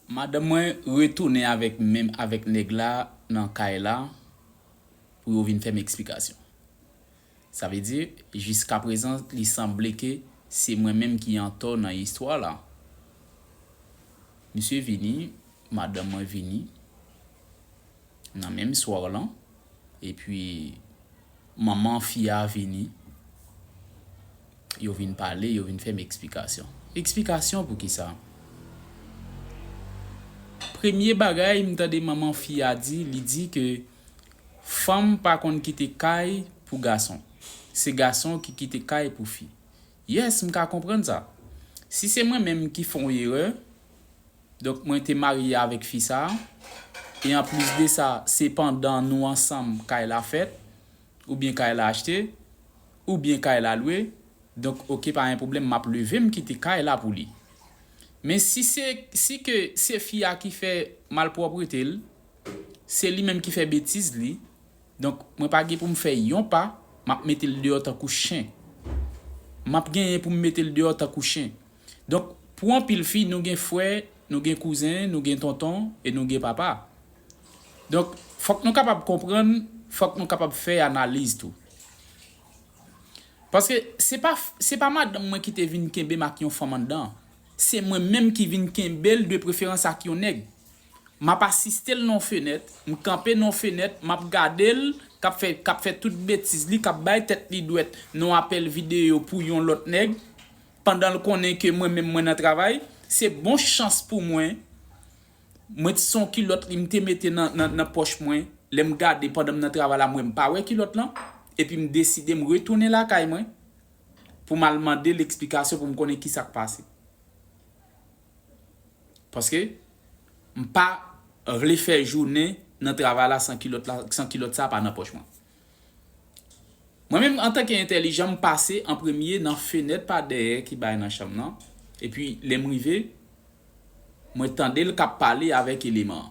Madanm mwen retounen avèk menm avèk nèg la nan kay la pou yo vin fè m eksplikasyon. Sa vle di, jiskaprezan li sanble ke se mwen menm ki antò nan istwa la. Misye vini, madanm mwen vini. Nan menm soir lan epi manman fi a vini yo vin pale yo vin fèm eksplikasyon eksplikasyon poukisa premye bagay m tande manman fi a di li di ke fanm pa konn kite kay pou gason se gason ki kite kay pou fi yes m ka konprann sa si se mwen menm ki fon erè Donk mwen te marye avèk fi sa a, e anplis de sa, se pandan nou ansanm kay la fèt, oubyen kay la achte, oubyen kay la lwe, donk ok pa gen pwoblèm m ap leve m kite kay la pou li. Men si se si ke se fi a ki fè malpwòprete l, se li menm ki fè betiz li, donk mwen pa gen pou m fè yon pa, m ap mete l deyò tankou chen. M ap genyen pou m mete l deyò tankou chen. Donk, pou anpil fi, nou gen frè, nou gen kouzen, nou gen tonton, e nou gen papa. Donk, fòk nou kapab konprann, fòk nou kapab fè analiz tou. Paske, se pa, se pa madanm mwen ki te vin kenbe m ak yon fanm anndan. Se mwen menm ki vin kenbe l de preferans ak yon nèg. M ap asiste l nan yon fenèt, m kanpe nan yon fenèt, m ap gade l k ap fè, k ap fè tout betiz li, k ap bay tèt li dwèt nan yon apèl videyo pou yon lòt nèg. Pandan l konnen ke mwen menm mwen nan travay, se bon chans pou mwen, mwen t son kilòt li m te mete nan pòch mwen, lè m gade pandan m nan travay la m wè m pa wè kilòt lan, epi m deside m retounen lakay mwen pou m al mande l eksplikasyon pou m konnen kisa k pase. Paske m pa vle fè jounen nan travay la san kilòt sa pa nan pòch mwen. Mwen menm antanke entèlijan m pase an premye nan fenèt pa dèyè ki bay nan chanm nan, epi lè m rive, mwen tande l k ap pale avèk eleman an.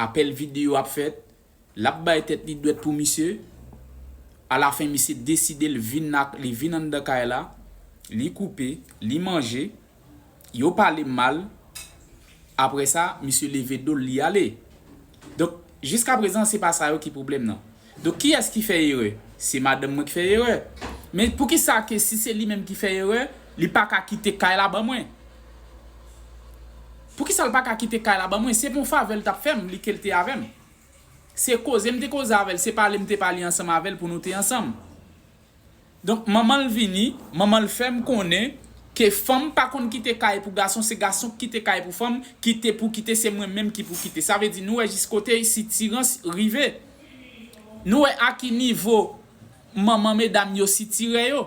Apèl videyo ap fèt, l ap bay tèt li dwèt pou misye, alafen misye deside l vin anndan kay la, li koupe, li manje. Yo pale mal, apre sa misye leve dol li ale. Donk jiska prezan se pa sa yo ki pwoblèm nan. Donk kiyès ki fè erè? Se madanm mwen ki fè erè. Men poukisa ke si se li menm ki fè erè, li pa ka kite kay la ban mwen? Poukisa l pa ka kite kay la ban mwen? Se pa yon favè l t ap fè m li ke l te avè m. Se koze m te koze avè l, se pale m te pale ansanm avè l pou nou te ansanm. Donk manman l vini, manman l fè m konnen ke fanm pa konn kite kay pou gason, se gason k kite kay pou fanm, kite pou kite se mwen menm ki pou kite. Sa vle di nou wè jis kote sitirans rive. Nou wè a ki nivo manman medam yo sitire yo.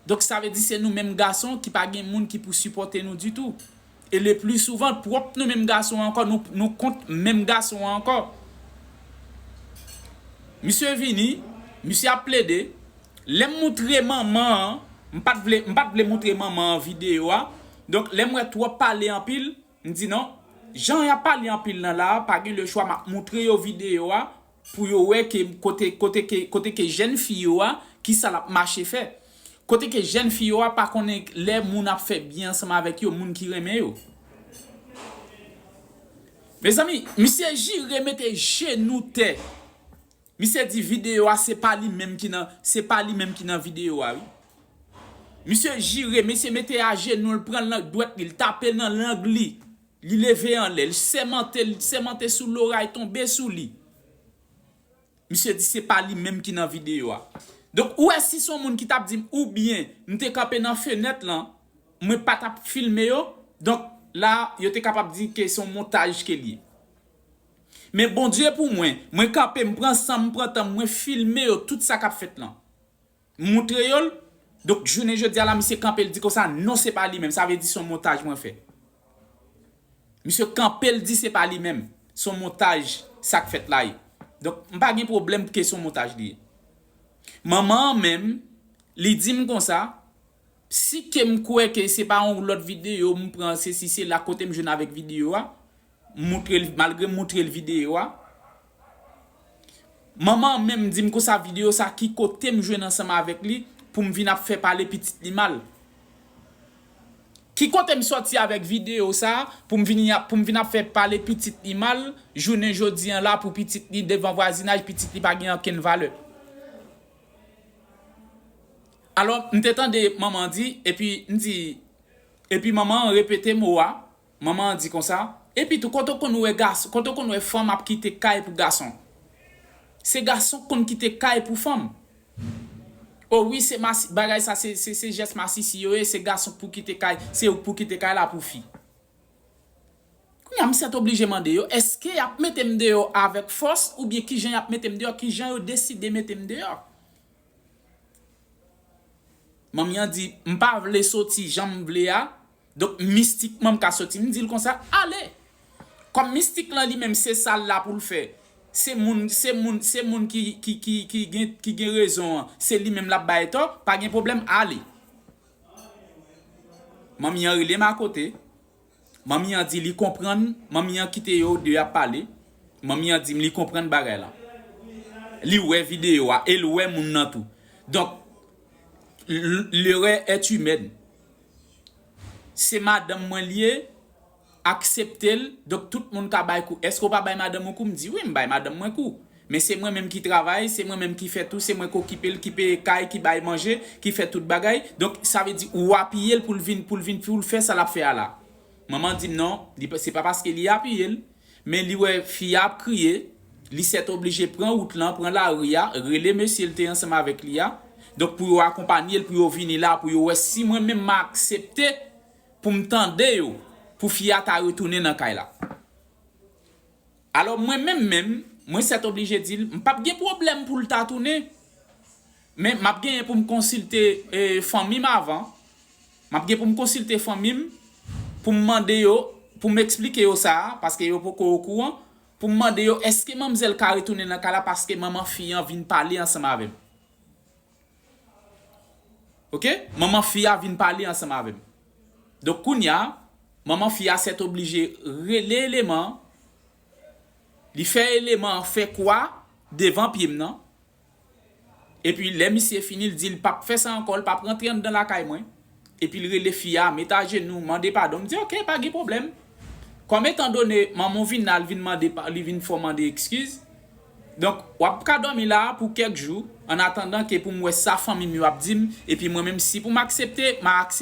Donk sa vle di se nou menm gason ki pa gen moun ki pou sipòte nou ditou. e le pli souvan pwòp nou menm gason ankò nou nou kont menm gason an ankò misye vini misye ap plede lèm moutre manman an m pat vle m pat vle moutre manman an video a donk lèm wè twòp pale anpil m di non jan yap pale anpil nan la pa gen le chwa map moutre yo video a Pou yo wè ke kote kote ke kote ke jèn fi yo a kisa lap mache fè. Kote ke jèn fi yo a pa konnen lè moun ap fè byen ansanm avèk yo moun ki renmen yo. Mezanmi misye jire mete jenou tè misye di video a se pa li menm ki nan se pa li menm ki nan video a wi. Misye jire misye mete ajenou l pran lang dwèt li l tape nan lang li Li leve anlè, li sèmante, li sèmante sou loray tonbe sou li. Misye di se pa li menm ki nan videyo a. Donk ou wè si son moun ki tap dim ou byen m te kanpe nan fenèt lan, mwen pa tap filme yo, donk la yo te kapab di ke son montaj ke li ye. Men Bondye pou mwen, mwen kanpe m pran sanm, m pran tanm mwen filme yo tout sa kap fèt lan. Moutre yo l, donk jounen jodi a la misye kanpe l di konsa non se pa li menm, sa vle di son montaj mwen fè. Misye kanpe l di se pa li menm, son montaj sak fèt la ye. Donk m pa gen pwoblèm ke son montaj li ye. Manman an menm, li di m konsa, Si ke m kwè ke se pa yon lòt videyo m pran sesi sela kote m jwenn avèk videyo a m moutre l malgre m moutre l videyo a manman an menm di m konsa videyo sa ki kote m jwenn ansanm avèk li pou m vin ap fè pale pitit li mal ki kote m sòti avèk videyo sa pou m vini pou m vin ap fè pale pitit li mal jounen jodi an la pou pitit li devan vwazinaj pitit li pa gen ankenn valè. Alò, m te tande Manman an di, epi m di, epi Manman an repete mo a, Manman an di konsa, Epitou, kote w konn wè gason, kote w konn wè fanm ap kite kay pou gason? Se gason k konn kite kay pou fanm. O wi, se masi, bagay sa se, se, se jès masisi yo ye, se gason k pou kite kay, se ou k pou kite kay la pou fi. Kounye a, m sètoblije mande yo, èske y ap mete m deyò avèk fòs, oubyen ki jan y ap mete m deyò, ki jan yo deside mete m deyò? Manmi an di, M pa vle soti jan m vle a, donk mistikman m ka soti. M di l konsa, Ale! Kòm mistik lan li menm se sa l la pou l fè, se moun se moun se moun ki ki ki ki gen ki gen rezon an, se li menm l ap bay tò, pa gen pwoblèm, ale! Manmi an rele m akote. Manmi an di li konprann Manmi an kite yo 2 ap pale Manmi an di m li konprann bagay lan Li wè video a e l wè moun nan tou Donk l'erreur est humaine Se madanm mwen l ye Aksepte l Donk tout moun ka bay kou Èske w pa bay madanm ou kou M di wi m bay madanm mwen kou Men se mwen menm ki travay, se mwen menm ki fè tou, se mwen k okipe l, ki peye kay, ki bay manje, ki fè tout bagay. Donk, sa vle di ou apiye l pou l vin, pou l vin, pou l fè sa l ap fè a la. Manman di m non, li pa, se pa paske li apiye l, men li wè fi a ap kriye, li sètoblije pran wout lan, pran lari a, rele mesye l te ansanm avèk li a, donk pou yo akonpanye l, pou yo vini la, pou yo wè si mwen menm m a aksepte pou m tande yo, pou fi a ta retounen nan kay la. Alò mwen menm menm, mwen sètoblije di l, m p ap gen pwoblèm pou l ta tounen, men m ap genyen pou m konsilte fanmi m avan, m ap gen pou m konsilte fanmi m pou m mande yo, pou m esplike yo sa, paske yo poko okouran, pou m mande yo èske manmzèl ka retounen nan kay la paske manman fi an vin pale ansanm avè m. Ok manman fi a vin pale ansanm avèm donk kounya manman fi a sètoblije rele eleman an li fè eleman an fè kwa devan pyem nan epi lè misye fini li dil pap fè sa ankò li pap rantre anndan lakay mwen. Epi l rele fi a, met ajenou, mande padon. M di ok, pa gen pwoblèm. Kòm etan done manman w vin la, li vin mande pa, li vin fè w mande ekskiz. Donk, w ap ka dòmi la a pou kèk jou, annatandan ke pou m wè sa fanmi m yo ap di m, epi mwen menm si pou m aksepte, ma aksepte.